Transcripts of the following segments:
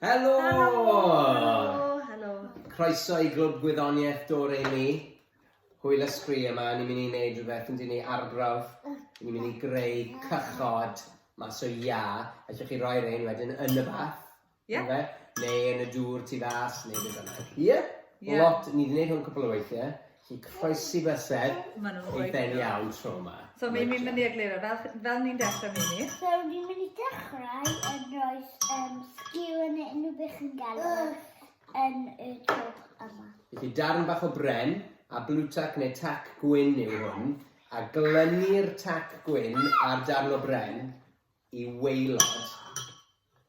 Helo! Helo! Helo! Croeso i Glwb Gwyddoniaeth Dore ni. Hwyl ysgri yma, ni'n mynd i wneud rhywbeth yn dyn ni arbrawf. Ni'n mynd i greu cychod mas o ia. Allwch chi roi rhain wedyn yn y bath? Ie. Yeah. Neu yn y dŵr tu fas, neu beth bynnag. Ie? Yeah? Yeah. Lot, ni wedi gwneud hwn cwpl o weithiau. Chi'n croesi bysedd i ben iawn tro yma. So mi'n mynd i egluro, fel, fel ni'n dechrau Mimi. So ni'n mynd i dechrau yn rhoi um, sgiw yn unrhyw beth chi'n gael yn y twch yma. Felly darn bach o bren, a blue tack neu tac gwyn yw hwn, a glynu'r tac gwyn ar darn o bren i weilod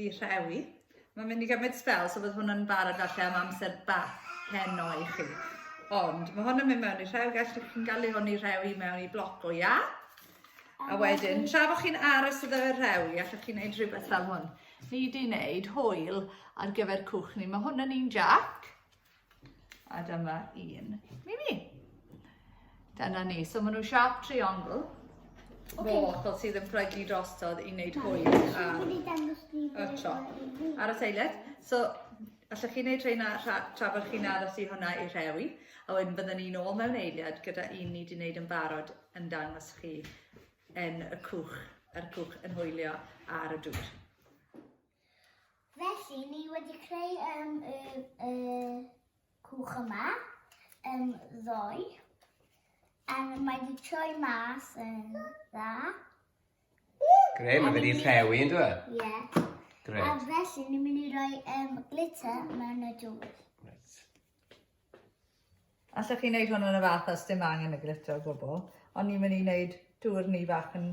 i rhewi. Mae'n mynd i gymryd spel, so bydd hwn yn barod falle am amser bach heno i chi. Ond mae hwn yn mynd mewn i rhew, gallwch chi'n galw hwn i rewi mewn i bloc o ia. A wedyn, tra bod chi'n aros iddo fe rewi, allwch chi'n gwneud rhywbeth fel hwn. Ni di wneud hwyl ar gyfer cwch ni. Mae hwn yn un jac. A dyma un Mimi. Dyna ni. So maen nhw'n sharp triangle. Okay. Mo, achos sydd yn plygu drostodd i wneud hwy a, a tro. Ar y seiled. So, allwch chi wneud rheina tra, tra bod chi'n aros i hwnna i rhewi. A wedyn byddwn ni'n ôl mewn eiliad gyda un ni wedi wneud yn barod yn dangos chi yn y cwch, yr cwch yn hwylio ar y dŵr. Felly, ni wedi creu um, y, y cwch yma, um, ddoe, a mae wedi troi mas yn dda. Gre, mae wedi rhewi yn dweud? Ie. Yeah. Gre. A felly, ni'n mynd i roi um, glitter mewn y dŵr. Right. Allwch chi wneud hwn yn y fath os dim angen y glitter o gwbl, ond ni'n mynd i wneud dŵr ni fach yn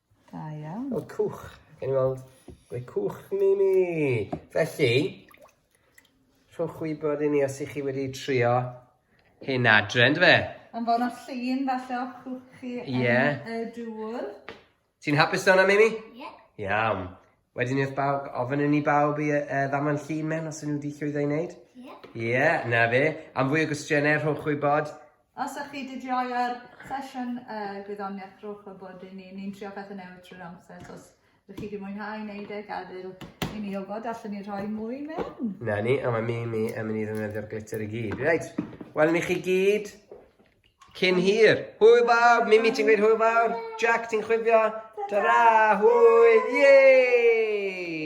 Da iawn. Wel, cwch. Gawn ni weld ble cwch ni ni. Felly, rhowch wybod i ni os ych chi wedi trio hyn adre, ynddo fe? Yn fawr o'r llun falle o cwch chi yn y dŵr. Ti'n hapus dawn am Amy? Ie. Yeah. Iawn. Wedyn wrth bawb, ofyn i ni bawb i uh, ddamau'n llun mewn os ydyn nhw wedi llwyddo i wneud. Ie. Yeah. Ie, yeah, na fe. Am fwy o gwestiynau, rhowch wybod. Os ych chi wedi joio'r sesiwn uh, gwyddoniaeth, rhowch wybod i ni. Ni'n trio pethau newydd trwy'r amser, so os ydych chi wedi mwynhau wneud e, gadael i ni wybod, allan ni rhoi mwy mewn. Na ni, a mae mi, mi yn mynd i ddefnyddio'r glitter i gyd. Reit, welwn ni chi gyd. Cyn hir. Hwyl fawr. Mimi, ti'n gweud hwyl fawr? Jack, ti'n chwifio? Ta-ra! Hwyl! Yay!